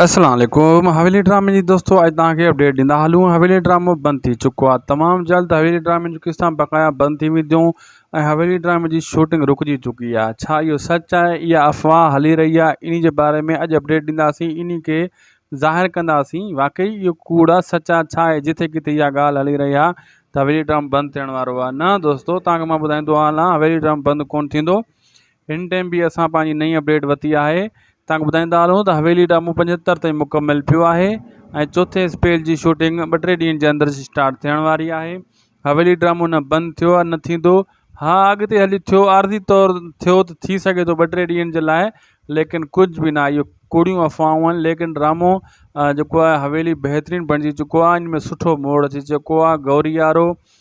اسلام عليڪم حويلي ڊرامي جي دوستو اڄ توهان کي اپڊيٽ ڏيندا هلون حويلي ڊرامو بند ٿي چڪو آهي تمام جلد حويلي ڊرامي جون قسطان بقايا بند ٿي وينديون ۽ حويلي ڊرامي جي شوٽنگ رڪجي چڪي آهي ڇا اهو سچ آهي اها افواهه هلي رهي آهي انهي جي باري ۾ اڄ اپڊيٽ ڏينداسين انهي کي ظاهر ڪنداسين واقعي اهو ڪوڙ آهي سچ آهي ڇا آهي جٿي ڪٿي اها ڳالهه هلي رهي آهي ته حويلي ڊرامو بند ٿيڻ وارو آهي نه دوستو توهان کي مان ٻڌائيندو هلان حويلي ڊرامو بند ڪونه ٿيندو هن ٽيم به اسان پنهنجي نئين اپڊيٽ وتي آهي توهان کي ٻڌائيندا هلون ته حويلي ڊرامو پنجهتر تائين مڪمل ٿيو آهي ۽ چوٿين اسپيل جي شوٽنگ ٻه ٽي ڏينهن جي اندر اسٽارٽ ٿيڻ واري آهي حويلي ڊرامو نه بند ٿيو آهي نه ٿيندو ها اڳتي هلي ٿيو عارضي طور ٿيو ته ٿي سگهي ٿو ٻه ٽي ڏينهن جي لاء ليڪن ڪجهه به نه آهي اهو ڪوڙيون افواهون آهن ليڪن ڊرامو جيڪو آهي حويلي بهترين بڻجي چڪو آهي ان ۾ سٺو موڙ اچي چڪو آهي گوريارو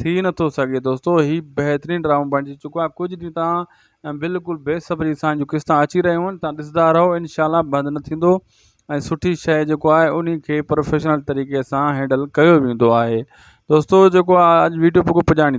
ٿي نٿو سگهي دوستو هي بهترين ڊرامو بڻجي چڪو آهي ڪجهه ڏينهن تان بلڪل بي صبري سان جو قسطان اچي رهيون آهن تان ڏسندا رهو انشاء الله بند نه ٿيندو ۽ سٺي شيء جيڪو آهي ان کي پروفيشنل طريقي سان هينڊل ڪيو ويندو آهي دوستو جيڪو آهي اڄ ويڊيو پڪو پڄاڻي